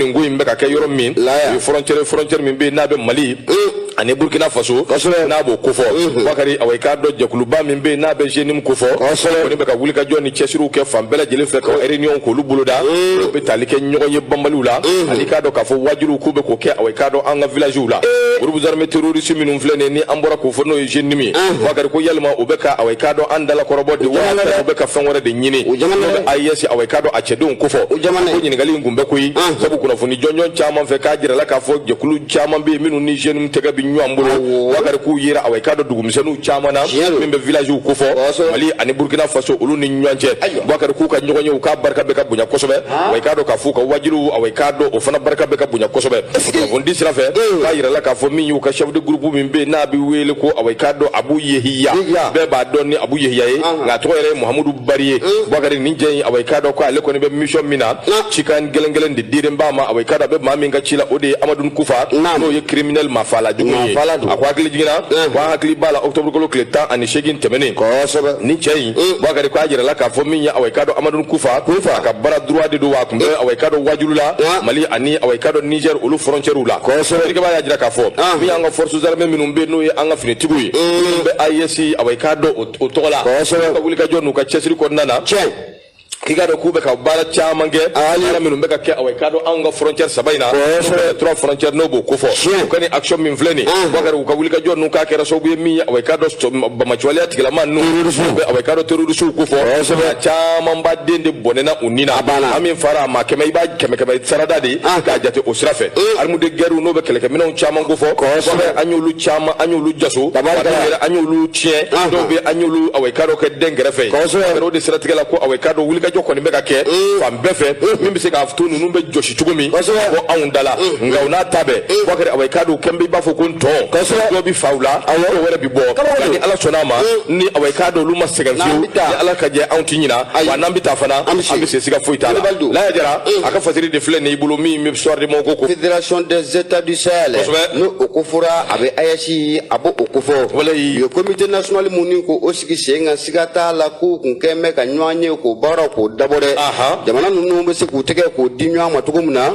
nin ko in bɛ ka kɛ yɔrɔ min o ye frontière frontière min bɛ yen n'a bɛ mali ani burkina faso n'a b'o kofɔ bakari awa i k'a dɔn jɛkuluba min bɛ yen n'a bɛ JNIM kofɔ kɔni bɛ ka wulikajɔ ni cɛsiriw kɛ fan bɛɛ lajɛlen fɛ ka réunion k'olu boloda u bɛ tali kɛ ɲɔgɔn ye banbaliw la ani k'a dɔn k'a fɔ waajuliw k'u bɛ k'o kɛ awa i k'a dɔn an ka villagew la groupe armé terroriste minnu filɛ nin ye ni an bɔra k'o fɔ n'o ye JNIM ye bakari ko yalima u bɛ ka awa i k'a dɔn an dalakɔrɔbɔ de wa u bɛ ka fɛn wɛrɛ de ɲini n'o bɛ AES awa i k'a dɔn a cɛdenw kofɔ ɲininkali in kun bɛ koyi sabu kunnafoni jɔnjɔn caman fɛ k'a jirala k'a fɔ jɛkulu caman bɛ yen minnu ni JNIM tɛgɛ bɛ ɲɔgɔn bolo bakari k'u yera awa i k'a dɔn dugumisɛnninw caman na min bɛ villagew kofɔ mali ani burkina faso olu ni ɲɔgɔn cɛ bakari k'u ka ɲɔgɔn ye u k'a barika bɛ ka bonya kosɛbɛ awa i k'a dɔn k'a fɔ u ka waajuliw awa i k'a dɔn o fana barika bɛ ka bonya kosɛbɛ kunnafonidi sira fɛ k'a jirala k'a fɔ min y'u ka chef de groupe min bɛ yen n'a bɛ wele ko awa i k'a dɔn abu yehiya bɛɛ b'a dɔn ni abu yehiya ye nka a tɔgɔ yɛrɛ ye mahamudu bari ye bakari nin cɛ in awa i k'a dɔn ko ale kɔni bɛ mission min na cikan gɛlɛngɛlɛn de dilen b'a ma awa i k'a dɔn a bɛ maa min ka ci la o de ye amadun kufa n'o ye criminel mafala jugu ye a ko hakili jiginna ko an hakili b'a la octobre kalo tile tan ani seegin tɛmɛnen nin cɛ in bakari ko a jirala k'a fɔ min ye awa i k'a dɔn amadun kufa a ka bras droit de don wa a kun bɛ awa i k'a dɔn waajuli la mali ani awa i k'a dɔn niger olu frontières la erikaba y'a jira k'a fɔ min y'an ka forces armées minnu bɛ n'o ye an ka finitigiw ye minnu bɛ AES awa i k'a dɔn o tɔgɔ la ka wulikajɔ n'u ka cɛsiri kɔnɔna na i k'a dɔn k'u bɛ ka baara caman kɛ baara minnu bɛ ka kɛ awa i k'a dɔn anw ka frontière saba in na n'o trois frontières n'o b'o kofɔ u ka nin action min filɛ nin ye bakari u ka wulikajɔ ninnu k'a kɛra sababu ye min ye awa i k'a dɔn banbaanciwaleya tigilamaa ninnu u bɛ awa i k'a dɔn terrorisiw kofɔ a camanba de bɔnɛna u ni na an min fara a ma kɛmɛ i b'a kɛmɛ kɛmɛ sarada de ye k'a jate o sira fɛ armes de guerrew n'o bɛ kɛlɛkɛminɛnw caman kofɔ an y'olu caman an y'olu jaso an y'olu tiɲɛ dɔw bɛ an y'olu awa i k'a dɔn kɛ dɛnkɛrɛfɛ o de siratigɛ la ko awa i k'a dɔn wulikajɔ kɔni bɛ ka kɛ fan bɛɛ fɛ min bɛ se k'a to ninnu bɛ jɔsi cogo min ka bɔ anw da la nka u n'a ta bɛɛ bakari awa i k'a dɔn kɛn bɛ i b'a fɔ ko ntɔn dɔw bɛ faga u la dɔw wɛrɛ bɛ bɔ nka ni ala sɔnna a ma ni awa i k'a dɔn olu ma sɛgɛn fiyewu ni ala ka jɛ anw ti ɲina wa n'an bɛ taa fana an bɛ se siga foyi t'a la laya jara a ka fasiri de filɛ nin i bolo min bɛ soir de bamako confédération des états du sahel n'o o ko fɔra a bɛ AES a b'o o kofɔ olu ye comité national min ni k'o sigi sen kan siga t'a la k'u kun kɛn bɛ ka ɲɔgɔn ye k'o baaraw k'o dabɔ dɛ jamana ninnu bɛ se k'u tɛgɛ k'o di ɲɔgɔn ma cogo min na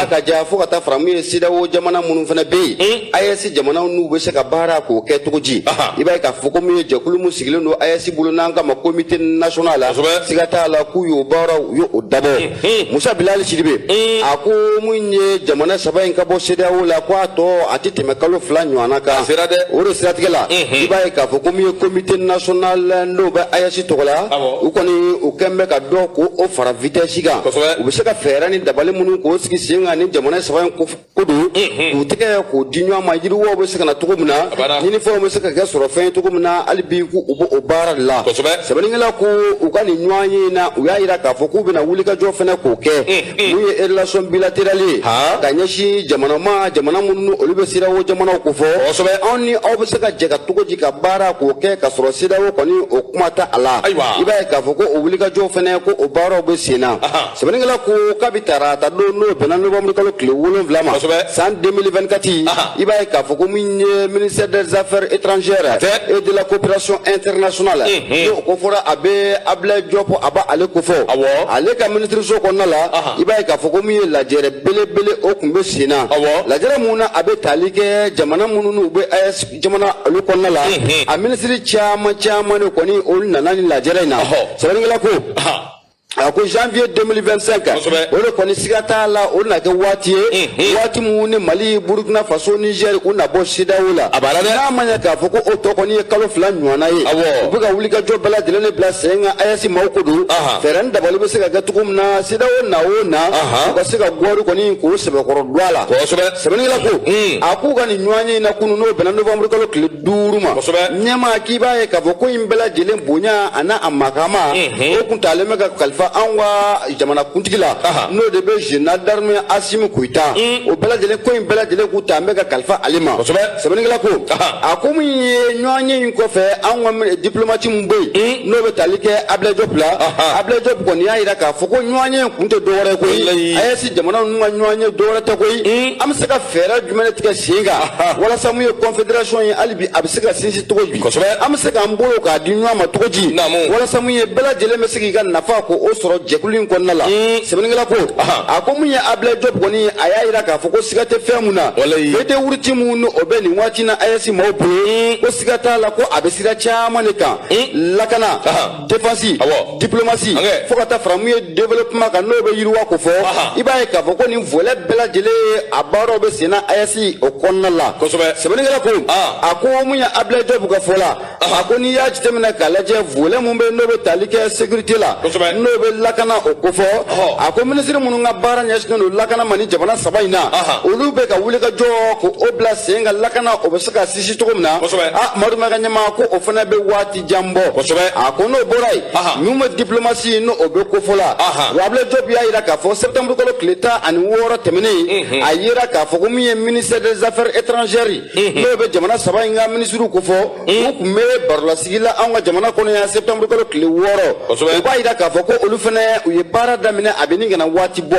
a ka ja fo ka taa fara min ye CEDEAO jamana minnu fana bɛ yen AES jamanaw n'u bɛ se ka baara k'o kɛ cogo di i b'a ye k'a fɔ ko min ye jɛkulu min sigilen don AES bolo n'an k'a ma comité national la siga t'a la k'u y'o baaraw u y'o dabɔ Hmm. musa bilali sidibe hmm. a ko min ye jamana saba in ka bɔ sedeyawo la ko a tɔ a tɛ tɛmɛ kalo fila ɲɔgɔnna kan a sera dɛ o de siratigɛ la hmm. i b'a ye k'a fɔ ko min ye comité national n'o bɛ AES tɔgɔ la u kɔni u kɛn bɛ ka dɔ k'o fara vitɛsi kan u bɛ se ka fɛɛrɛ ni dabali minnu k'o sigi sen kan ni jamana saba in ko ko don k'u tɛgɛ k'o di ɲɔgɔn ma yiriwaw bɛ se ka na cogo min na ɲinifɛnw bɛ se ka kɛ sɔrɔfɛn ye cogo min na hali bi k'u bɛ o baara de la sɛbɛnnikɛla ko u ka nin ɲɔgɔnye in na u y'a jira k'a fɔ k'u bɛna wulikajɔ fana k'o kɛ min ye relation bilatérale ye ka ɲɛsin jamana ma jamana minnu olu bɛ CEDEAO jamanaw kofɔ anw ni aw bɛ se ka jɛ ka cogo di ka baara k'o kɛ ka sɔrɔ CEDEAO kɔni o kuma tɛ a la i b'a ye k'a fɔ ko o wulikajɔ fana ko o baaraw bɛ sen na. sɛbɛnnikɛla ko kabi tarata don n'o bɛnna nɔwanburu kalo tile wolonwula ma san 2024 i b'a ye k'a fɔ ko min ye ministère des affaires étrangères et de la coopération internationale n'o kofɔra a bɛ abulayi jɔpu a b'ale kofɔ ale ka minisiriso kɔnɔna la i b'a ye k'a fɔ ko min ye lajɛrɛ belebele o kun bɛ sen na lajɛrɛ min na a bɛ tali kɛ jamana minnu n'u bɛ AES jamana olu kɔnɔna la a minisiri caman caman de kɔni olu nana nin lajɛrɛ in na sɛbɛnnikɛla ko a ko janvier 2025 o de kɔni siga t'a la o na kɛ waati ye waati min ni mali burukina faso niger u na bɔ CEDEAO la n'a ma ɲɛ k'a fɔ ko o tɔ kɔni ye kalo fila ɲɔgɔnna ye u bɛ ka wulikajɔ bɛɛ lajɛlen de bila sen kan ayɛsi maaw ko don fɛɛrɛ ni dabali bɛ se ka kɛ cogo min na CEDEAO na o na u ka se ka guwari kɔni k'o sɛbɛkɔrɔ don a la sɛbɛnnikɛla ko a k'u ka nin ɲɔgɔnye in na kunun n'o bɛnna novembre kalo tile duuru ma ɲɛma k'i b'a ye k'a fɔ ko in bɛɛ lajɛlen bonya ani a makama o kun taalen bɛ ka kalifa anw ka jamanakuntigi la n'o de bɛ jenerali darime asimi goyita o bɛɛ lajɛlen ko in bɛɛ lajɛlen kun taalen bɛ ka kalifa ale ma sɛbɛnnikɛla ko a ko min ye ɲɔgɔnye in kɔfɛ anw ka dipulomati min bɛ yen n'o bɛ tali kɛ abilaye jɔpu la abilaye jɔpu kɔni y'a jira k'a fɔ ko ɲɔgɔnye in kun tɛ dɔwɛrɛ ye koyi jamana ninnu ka ɲɔgɔnye dɔwɛrɛ tɛ koyi an bɛ se ka fɛɛrɛ jumɛn de tigɛ sen kan walasa mun ye confédération ye hali bi a bɛ se ka sinsin cogo di kosɛbɛ an bɛ se k'an bolo k'a di ɲɔgɔn ma cogo di naamu walasa mun ye bɛɛ lajɛlen bɛ se k'i ka nafa k'o sɔrɔ jɛkulu in kɔnɔna la sɛbɛnnikɛla ko a ko mun ye ablaye jɔp kɔni ye a y'a jira k'a fɔ ko siga tɛ fɛn mun na feuille de route min ni o bɛ nin waati na ayɛsi maaw bolo ko siga t'a la ko a bɛ sira caman de kan lakana défense diplomatie fo ka taa fara mun ye développement kan n'o bɛ yiriwa kofɔ i b'a ye k'a fɔ ko nin volet bɛɛ lajɛlen ye a baaraw bɛ senna AES o kɔnɔna la sɛbɛnnikɛla ko a ko mun ye abilayi jɔpu ka fɔ la a ko n'i y'a jateminɛ k'a lajɛ volet min bɛ n'o bɛ tali kɛ sécurité la n'o bɛ lakana o kofɔ a ko minisiri minnu ka baara ɲɛsinnen don lakana ma ni jamana saba in na olu bɛ ka wulikajɔ k'o bila sen kan lakana o bɛ se ka sinsin cogo min na a madu maka ɲama ko o fana bɛ waati jan bɔ kosɛbɛ a ko n'o bɔra yen min bɛ diplomatie n'o bɛ kofɔ la wa Ablaye Diop y'a jira k'a fɔ septembre kalo tile tan ani wɔɔrɔ tɛmɛnen a jira k'a fɔ ko min ye ministère des affaires étrangères n'o bɛ jamana saba in ka minisiriw kofɔ u tun bɛ barolasigi la anw ka jamana kɔnɔ yan septembre kalo tile wɔɔrɔ o b'a jira k'a fɔ ko olu fana u ye baara daminɛ a bɛ nin kana waati bɔ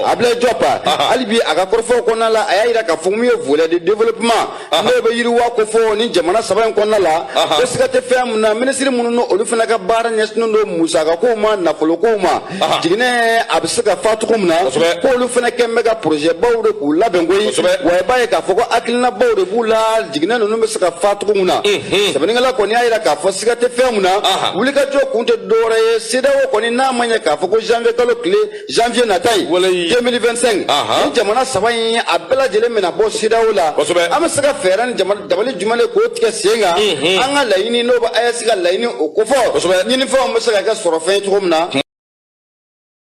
Ablaye Diop hali bi a ka kɔrɔfɔw kɔnɔna la a y'a jira k'a fɔ min ye volet de développement n'o bɛ yiriwa ko fɔ ni jamana saba in kɔnɔna la ko siga tɛ fɛn min na minisiri minnu n'olu fana ka baara ɲɛsinnen don musakakow ma nafolokow ma jiginɛ a bɛ se ka fa cogo min na k'olu fana kɛn bɛ ka porozɛbaw de k'u labɛn koyi wa i b'a ye k'a fɔ ko hakilinabaw de b'u la jiginɛ ninnu bɛ se ka fa cogo min na sɛbɛnnikɛla kɔni y'a jira k'a fɔ siga tɛ fɛn min na wulikajɔ kun tɛ dɔwɛrɛ ye CEDEAO kɔni n'a ma ɲɛ k'a fɔ ko janvier kalo tile janvier nata in 2025 ni jamana saba in a bɛɛ lajɛlen mana bɔ CEDEAO la an bɛ se ka fɛɛrɛ ni dabali jumɛn de k'o tigɛ sen kan an ka laɲini n'o bɛ AES ka laɲini o kofɔ ɲinifɛnw bɛ se ka kɛ sɔrɔfɛn ye cogo min na